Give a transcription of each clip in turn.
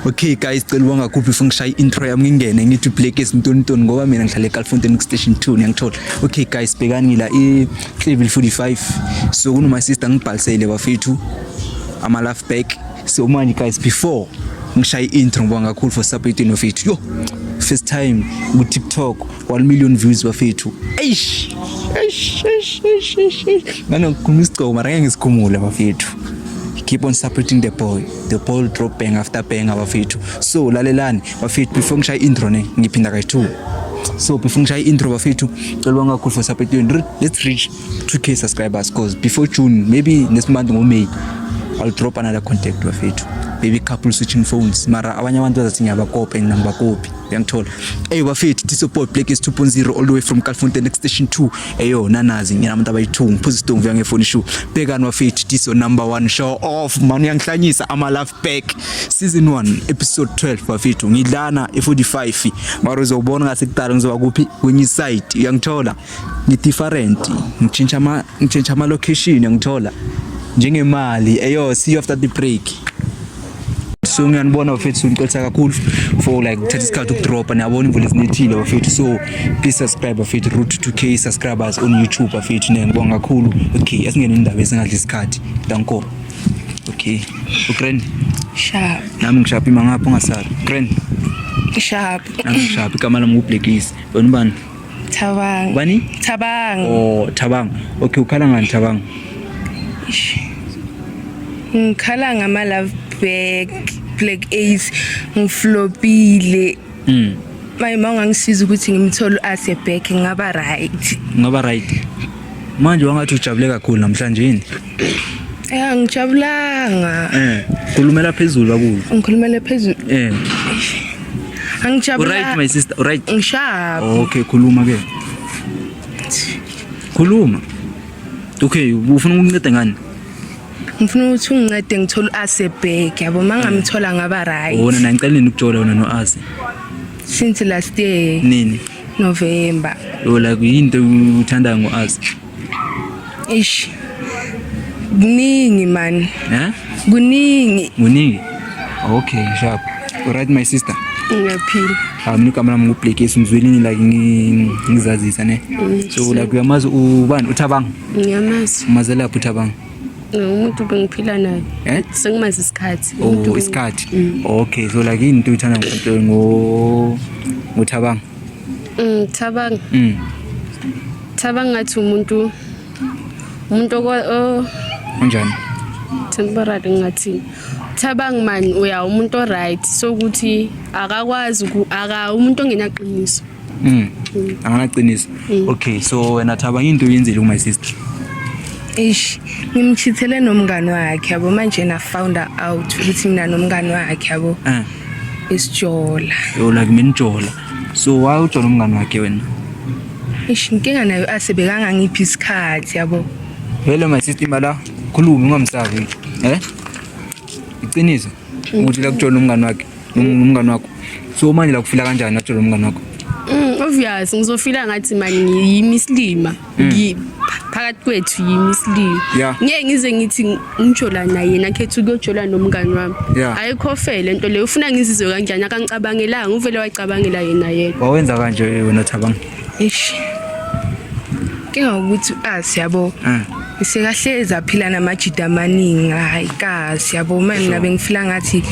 Okay guys cela wangakhuphi ufuna ngishaya intro yami ngingene ngithi Black is Mtontoni ngoba mina ngihlale eGalfontein station 2 ngiyangithola. Okay guys bhekani ngila i level 45 so kuno my sister ngibhalisele bafethu ama love back so manje guys before ngishaya intro ngoba ngakhulu for support ino fethu yo first time ku TikTok 1 million views bafethu eish eish eish eish eish ngano kumisigcoko mara ngeke ngisikhumule bafethu keep on supporting the boy the ball drop bang after bang abafethu so lalelani bafethu before ngishaya intro ne ngiphinda kayi two so before ngishaya intro bafethu cela bangakhulu for support yenu let's reach 2k subscribers cause before june maybe next month ngo may i'll drop another contact bafethu baby couple switching phones mara abanye abantu bazathi ngiyabakopa and ngibakopi uyangithola eyi bafethu disoport black is 2.0 all the way from calfontein next station 2 eyo nanazi ngina abantu abayi-2 ngiphuza isitongo vya ngefoni shu bhekani bafethu diso number 1 show off mani uyangihlanyisa ama-love back season 1 episode 12 bafethu ngidlana e-45 mara uzobona ngasekudala ngizoba kuphi kwenye iside uyangithola ngi-different ngitshintsha ama ngitshintsha ama location ngithola njengemali eyo see you after the break so ngiyanibona bafethu ngicotha kakhulu for like thatha isikhathi ukudropa niyabona imvula isinethile bafethu so please subscribe bafethu root 2k subscribers on youtube bafethu ne ngibonga kakhulu okay asingene indaba esingadla isikhathi danko okay ugrand sharp nami ngishaphi mangapha ungasala grand sharp nami ngishaphi igama lami ngublackis wena ubani Thabang. Ubani? Thabang. Oh, Thabang. Okay, ukhala ngani Thabang? Ngikhala ngama love back, black ace, ngiflopile. Mm. Maye mawungangisiza ukuthi ngimthole ase back ngaba right. Ngaba right. Manje wangathi ujabule kakhulu namhlanje yini? Eh angijabulanga. Eh khulumela phezulu bakulo. Ngikhulumela phezulu. Eh. Angijabulanga. Right my sister, right. Ngishaya. Okay khuluma ke. Khuluma. Okay ufuna ukunceda ngani? ngifuna ukuthi ungincede ngithole u-ase back yabo uma ngamthola ngaba right wona na ngicela nini ukuthola wona no-ase since last year nini november yola kuyinto uthandayo ngo-ase Eish. Kuningi man. Eh? Kuningi. Kuningi. Okay, sharp. All right my sister. Ngiyaphila. Ah mina kamera mungu play case ngizwile ngi like ngizazisa ne. Mm, so like uyamazi ubani uthabanga? Ngiyamazi. Umazela lapho uthabanga. umuntu bengiphila naye eh? sengimazi isikhathi oh, isikhathi mm. okay so like yini into uthanda ngothabanga ngithabanga mm, mm. Thaba ngathi umuntu umuntu onjani? Temporary ngathi Thabang man uya umuntu oright so ukuthi akakwazi aka umuntu ongenaqiniso. Mm. mm. Anganaqiniso. Mm. Okay so wena Thaba into uyenzile ku my sister. Eish ngimchithele nomngani wakhe yabo manje na found out ukuthi mina nomngani wakhe yabo. Eh. Isijola. Yo like mina ijola. So why ujola umngani wakhe wena? Eish inkinga nayo ase bekangangiphi isikhathi yabo. Hello my sister mala khuluma ungamsavi eh iqiniso ukuthi la kujona umngani wakhe umngani wakho so manje la kufila kanjani atshela umngani wakho Mm, obvious ngizofila ngathi mani ngiyimisilima ngi phakathi kwethu yimisilima Yeah. ngeke ngize ngithi ngijola naye yena khetha ukuyojola nomngani wami Yeah. ayikho fair le nto leyo ufuna ngizizwe kanjani akangicabangelanga uvele wayicabangela yena yedwa wawenza kanje wena thabang eish kinga ukuthi asi yabo Mm. sekahlezi aphila namajida amaningi hayi kazi yabo uma mina bengifila ngathi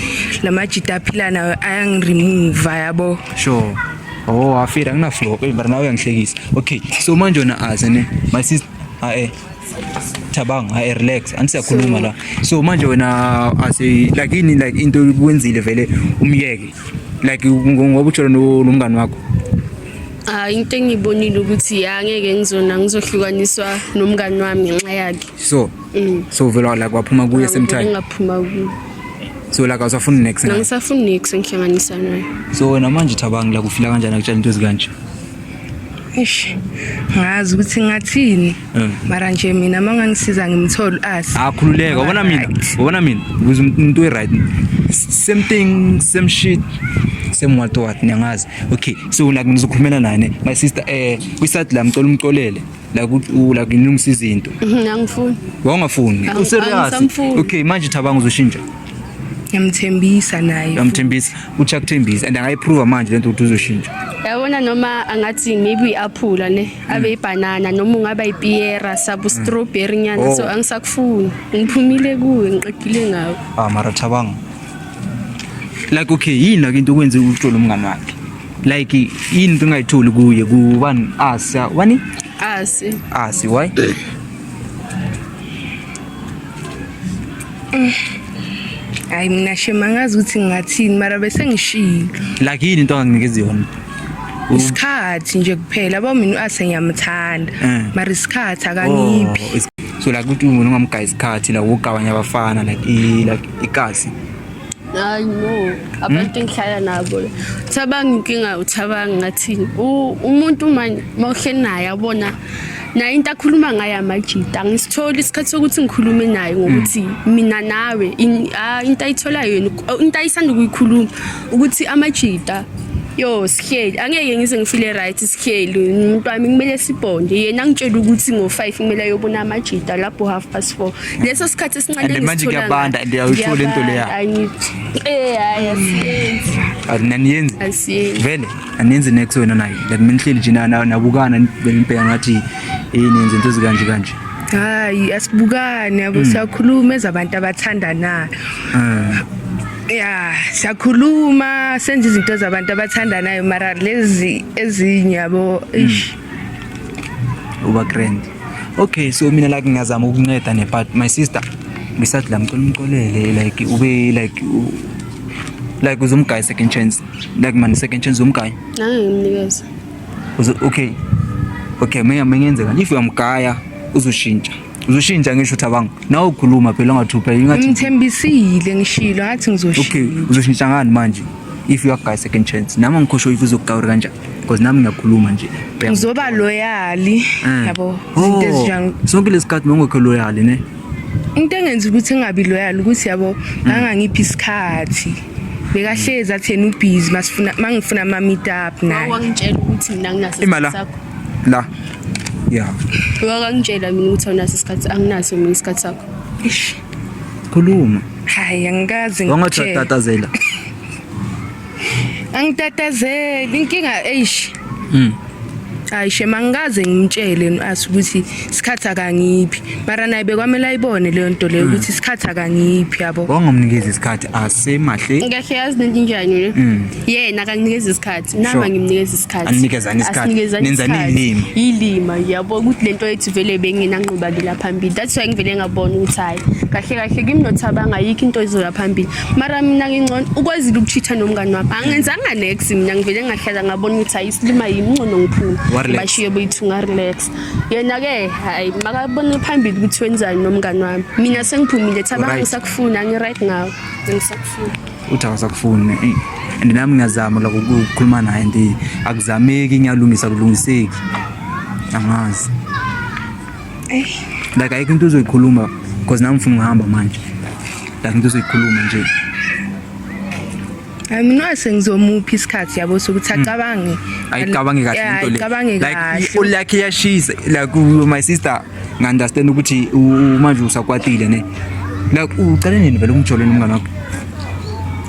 la majida aphila nayo ayangiremova yabo sure oh wafira nginaflow hey mara nawe uyangihlekisa okay so manje wena azi ne my sister ah eh Thabang, I relax. Anisiyakhuluma la. So manje wena as a like ini like into ukwenzile vele umyeke. Like ngoba uthola nomngani wakho. Ah into engibonile ukuthi angeke ngizona ngizohlukaniswa nomngani wami ngenxa yakhe. So. Mm. So vele la kwaphuma kuye same time. Ngaphuma kuye. So la kawusafuni next. Ngisafuni next ngihlanganisa naye. So wena manje Thabang la kufila kanjani akutshela into ezikanje? Eish. Ngazi ukuthi ngathini. Eh. Mara nje mina mangangisiza ngimthole asi. Akhululeka ah, ubona mina. Ubona mina. Uze umuntu right. Same thing, same shit. Same what what ngiyazi. Okay. So la ngizokhulumela nani. My sister eh kwisat la mcela umxolele. la kucula kunilungisa izinto mhm, angifuni wawungafuni u serious okay manje thabanga uzoshintsha yamthembisa naye yamthembisa uthi akuthembisa and angayiprove manje lento ukuthi uzoshintsha yabona noma angathi maybe uyaphula ne hmm. abe ibanana noma ungaba ipiera sabu hmm. strawberry nyana oh. so angisakufuni ngiphumile kuwe ngiqedile ngawe ah mara thabanga like okay yini like into okwenze uhlolo umngane wakhe like yini into engayitholi kuye kubani asi wani asi asi why hayi mina shema ngazi ukuthi ngingathini mara bese ngishilo like yini into anginikeza yona isikhathi nje kuphela yabo mina u-ase ngiyamthanda eh. mara isikhathi akangiphi oh, so like ukuthi umuntu ungamgaya isikhathi like ukugabanya abafana like like ikasi hayi no abantu hmm? engihlala nabo uthabanga inkinga uthabanga ngathini umuntu manje uma uhleli naye abona naye into akhuluma ngayo amajita angisitholi isikhathi sokuthi ngikhulume naye ngokuthi hmm. mina nawe ah, into ayitholayo yena into ayisanda ukuyikhuluma ukuthi amajita yo sihleli angeke ngize ngifile right sihleli umuntu wami kumele sibhonde yena ngitshela ukuthi ngo-five kumele ayobona amajita lapho half past four leso sikhathi esincane manje kuyabanda and uyayithola into leya eh hayi asiyenzi ananiyenzi asiyenzi vele aniyenzi next wena naye like mina ngihleli nje nabukana ngibheka ngathi yini yenze into ezikanje kanje hayi asibukane yabo hmm. siyakhuluma ezabantu abathandanayo ah. ya siyakhuluma senza izinto zabantu abathandanayo mara lezi ezinye yabo hmm. uba grand Okay, so mina like ngiyazama ukunceda ne but my sister ngisathi la mcela umxolele like ube like like uzomgaya second chance like man second chance uzomgaya hayi ngimnikeza okay okay mina mengenzeka if uyamgaya uzoshintsha uzoshintsha ngisho ukuthi abanga nawe ukhuluma phela ungathupha ingathi ngithembisile ngishilo ngathi ngizoshintsha okay uzoshintsha ngani manje if you are guy second chance nami ngikhosho if uzokugawura kanjani because nami ngiyakhuluma nje ngizoba loyali eh. yabo izinto oh, ezinjani sonke lesikhathi mongekho loyali ne into engenza ukuthi ngingabi loyali ukuthi yabo mm. ngangangiphi isikhathi bekahlezi athi yena ubhizi masifuna mangifuna ama meet up naye wangitshela ukuthi mina nginaso imala la ya wakangitshela mina ukuthi awunaso isikhathi anginaso mina isikhathi sakho ish khuluma hayi angikaze ngitshela wangathi tatazela angitatazeli inkinga eish mm hayi shema ngikaze ngimtshele as ukuthi isikhathi akangiphi mara naye bekwamele ayibone leyo nto leyo hmm. ukuthi isikhathi akangiphi yabo wangomnikeza isikhathi asemahle ngekhe yazi nento njani le hmm. yena akanginikeza isikhathi nami angimnikeza isikhathi anikezani isikhathi nenzani ilima ilima yabo ukuthi lento yethu vele bengena nqubakela phambili that's why ngivele ngabona ukuthi hayi kahle kahle kimi nothabanga yikho into izoya phambili mara mina ngingcono ukwazile ukuchitha nomngane wakho angenzanga nex mina ngivele ngahlala ngabona ukuthi hayi isilima yimncono ngiphuma bashiye boyithu ngarelax yena-ke hayi makabone phambili ukuthi wenzani nomngane wami mina sengiphumile thabanga ngisakufuni angi-right ngawo angisakufuni uthi awasakufuni and nami ngiyazama loko ukukhuluma naye ndi akuzameki ngiyalungisa kulungiseki angazi Eh. Like ayikho into uzoyikhuluma because nami ngifuna ukuhamba manje. Like into uzoyikhuluma nje. Hayi mina sengizomuphi isikhathi yabo sokuthi hmm. acabange. Ayicabange kahle into le. Ayicabange kahle. Like ulakhe yashisa like my sister ngandastand ukuthi manje usakwatile ne. Like ucela nini vele umjoleni umngane wakho?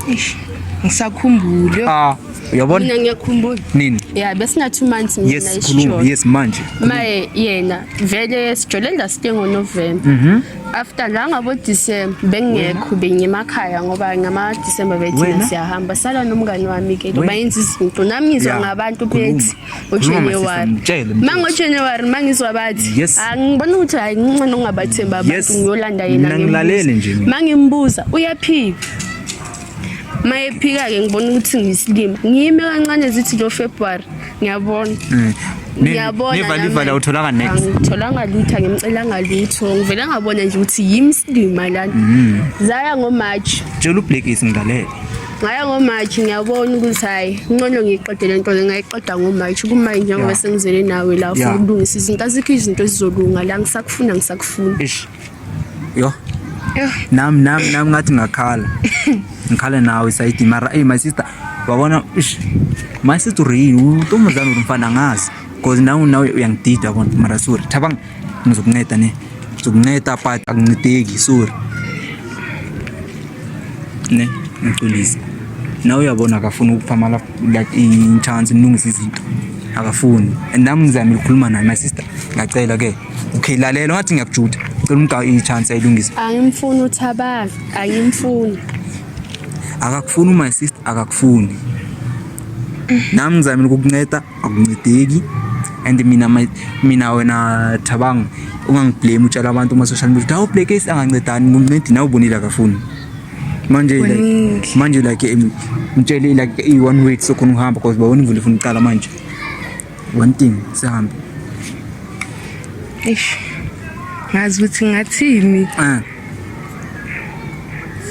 Eish. Ngisakhumbule. Ah. Uyabona? Mina ngiyakhumbula. Nini? Yeah, besina 2 months mina yes, khuluma. Yes, manje. Maye yena vele sijole la site ngo November. Mhm. Mm After la ngabo December bengekho bengemakhaya ngoba ngama December bethina siyahamba sala nomngani wami ke lo bayenza izinto nami ngizwa yeah. ngabantu bethi uJanuary. Mango January mangizwa bathi angibona ukuthi hayi ngincane ungabathemba abantu ngiyolanda yena ngilalele nje. Mangimbuza uyaphila. mayephika-ke ngibona ukuthi ngiyisilima ngiyime kancane zithi lo february ngiyabona mm. ngiyabonanevalivala utholanga next ngitholanga lutho ngimcelanga lutho ngivele ngabona nje ukuthi yimi silima lana mm. zaya ngomarch tshela ublackis ngilalele ngaya ngomarch ngiyabona ukuthi hhayi ncono ngiyiqede le nto le ngayiqeda ngomarch kumanje njengoba sengizele nawe la for ukulungisa izinto azikho izinto ezizolunga la ngisakufuna ngisakufuna Yo. Nam nam nam ngathi ngakhala. Ngikhala nawe sayidi mara hey my sister wabona ish my sister real utomzana umfana ngazi because nawe nawe uyangidida bona mara sorry thabang ngizokunceda ne ngizokunceda but akuncedeki sorry ne ngiculisa nawe uyabona akafuni ukuphamala like i-chance nilungisa izinto akafuni and nami ngizamile ukukhuluma naye my sister ngiyacela ke okay lalela ngathi ngiyakujuda cela umgawu i-chance ayilungise angimfuni uthabaka angimfuni akakufuni my sister akakufuni nami ngizamile ukukunceda akuncedeki and mina mina wena thabanga ungangiblame utshela abantu kuma-social media ukuthi awu black ace angancedani ngumncedi nawe ubonile akafuni manje like manje like mtshele like i-one way sokhona uhamba because babona imvula ifuna uqala manje one thing sihambe eish ngazi ukuthi ngathini eh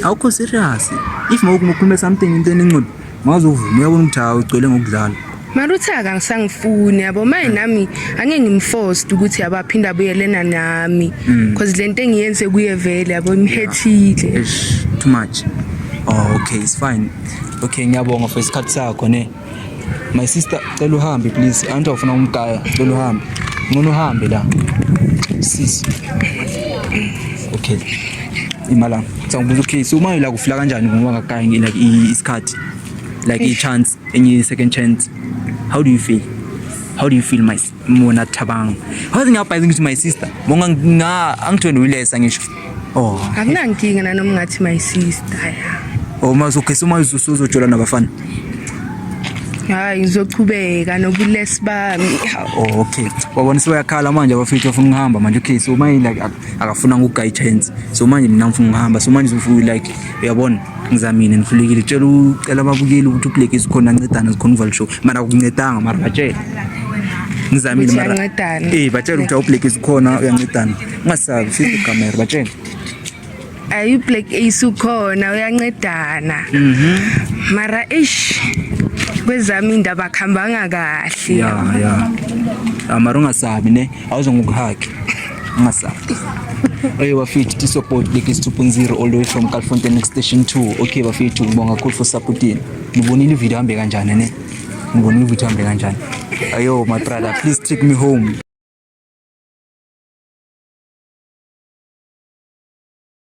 awukho serious if mawukhulume something into enenqondo maze uvume uyabona ukuthi hawu ugcwele ngokudlala maruthaka ngisangifuni yabo maye nami angeke ngimforced ukuthi yabo aphinde abuyelena nami mm. cause lento engiyenze kuye vele yabo imhethile yeah. too much oh, okay it's fine okay ngiyabonga for isikhathi sakho ne My sister cela uhambe please. Anti awufuna umgaya, cela uhambe. Ngona uhambe la. Sis. Okay. Imala. Sangibuza ucase uma ila kufika kanjani ngoba ngakayi ngi like isikhathi. Like i chance, enye second chance. How do you feel? How do you feel my sister? Mona Thabang. Hazi ngiyabhayiza ngithi my sister. Monga nga angithweni uyilesa ngisho. Oh. Akunankinga nanoma ngathi my sister. Oh mazogesa uma uzojola nabafana. Hayi ngizochubeka nobulesi bami. Oh okay. Wabona sebeyakhala manje abafethu afuna ukuhamba manje okay so manje like akafuna ngugay chance. So manje mina ngifuna ukuhamba. So manje uzofuyi like uyabona. ngizamile nifulekile tshela ucela ababukeli ukuthi upleke zikhona ancedana zikhona uvala show mara kuncedanga mara batshele ngizamile mara eh batshele ukuthi awupleke zikhona uyancedana ungasabi fisa ikamera batshele ayi upleke isukhona uyancedana mhm mara ish kwezami indaba akuhambanga kahle ya ya amara ungasabi ne awuzongokuhaki Masafi. Oye bafethu tisobot lekis 2.0 all the way from Calfonte next station 2. Okay bafethu ngibonga kakhulu for supporting. Nibonile ivideo hambe kanjani ne? Nibonile ivideo hambe kanjani? Ayo my brother please take me home.